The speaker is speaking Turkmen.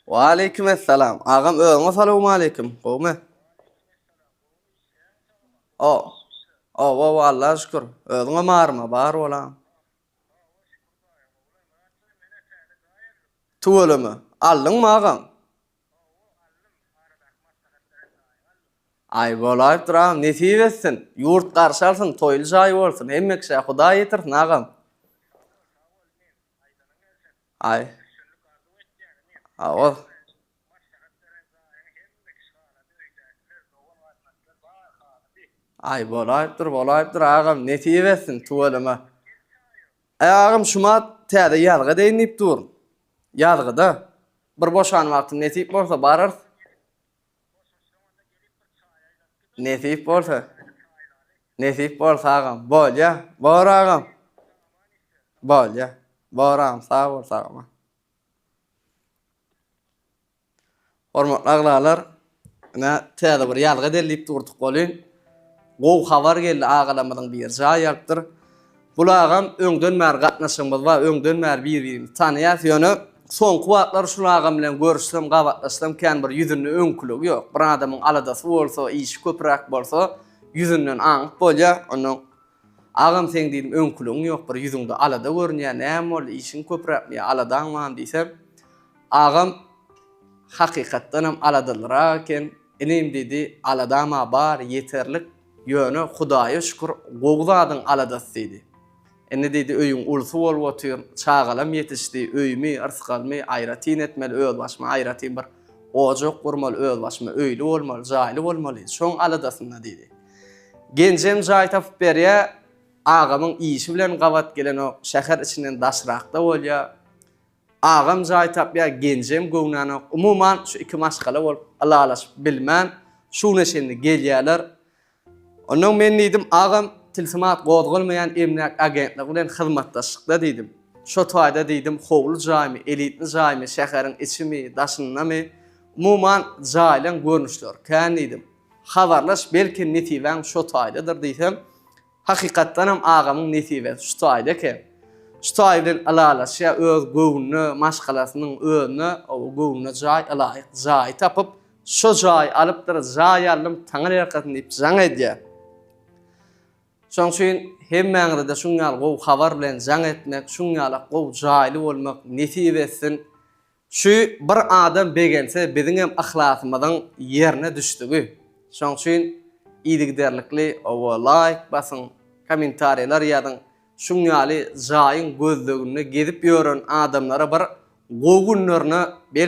Waleýkim essalam. Agam özüňe salawmaleýkim. Gowmy? O. O, o, Allaha şükür. Özüňe barmy? Bar bolam. Tüweleme. Aldyňmy agam? Aý bolaýypdyr agam. Nesip etsin. Ýurt garşy alsyn, toýly jaý bolsun. Hemme kişä Hudaý ýetirsin agam. Aý. Aol. Aý bolaýypdyr bolaýypdyr agam nesip etsin tüweleme. Aý agam şuma täze ýazga edeýin diýip durun. Ýazgyda bir boşan wagtym nesip bolsa bararys. Nesip bolsa. Nesip bolsa agam. Bolýa. Bor agam. Bolýa. Bor agam. Sag bol sagama. Hormatly aglalar, ine täze bir ýazga derlip durduk welin, gowy habar geldi agalarymyzyň biri jaý alypdyr. Gul agam öňden bäri gatnaşygymyz bar, öňden bäri bir-birimizi tanaýas, ýöne soňky wagtlar şul agam bilen görüşsem, gabatlaşsam kän bir ýüzünde öňküligi ýok. Bir adamyň aladasy bolsa, işi köpüräk bolsa, ýüzünden aňyp bolýa. Onda Agam seň diýdim öňküligiň ýok, bir ýüzüňde alada görünýä, näme boldy, işiň köpüräkmi ýa aladaň barmy diýsem, agam hakykatdanam aladalyrak eken, inim diýdi, aladam-a bar, ýeterlik, Ýöne, Hudaýa şükür, gowy zadyň aladasy diýdi. Indi diýdi, öýüň ulusy bolup otyr, çagalam ýetişdi, öýümi, yrsgalymy aýratyn etmeli, özbaşyma aýratyn bir ojak gurmaly, özbaşyma öýli bolmaly, jaýly bolmaly, şoň aladasynda diýdi. Genjem jaý tapyp berýär, agamyň işi bilen gabat gelenok, şäher içinden daşrakda bolýar. Agam jaý tapýa genjem göwnanok umuman şu iki maşgala bolup ylalaşyp bilmän şu güne çenli gelýäler. Ondan men diýdim agam tilsimat gozgalmaýan emläk agentlik bilen hyzmatdaşlykda diýdim. Şo taýda diýdim howly jaýmy elitni jaýmy şäheriň içimi daşyndamy umuman jaýlaň görnüşleri kän diýdim. Habarlaş belki nesibäň şo taýdadyr diýsem Hakykatdanam agamyň nesibesi şu taýda eken. Şu taý bilen ylalaşýa öz göwnüne, maşgalasynyň özüne göwnüne jaý ylaýyk jaýy tapyp, şo jaýy alypdyr, jaý aldym, Taňry ýalkasyn diýip jaň edýä. Şoň üçin hemmäňize-de şuň ýaly gowy habar bilen jaň etmek, şuň ýalak gowy jaýly bolmak nesip etsin. Şu bir adam begense biziňem yhlasymyzyň ýerine düşdügi. Şoň üçin yzygiderlikli oba laýk basyň, kommentariýalar ýazyň. Şuň ýaly jaýyň gözleginde gezip ýören adamlara bir gowy günlerine belki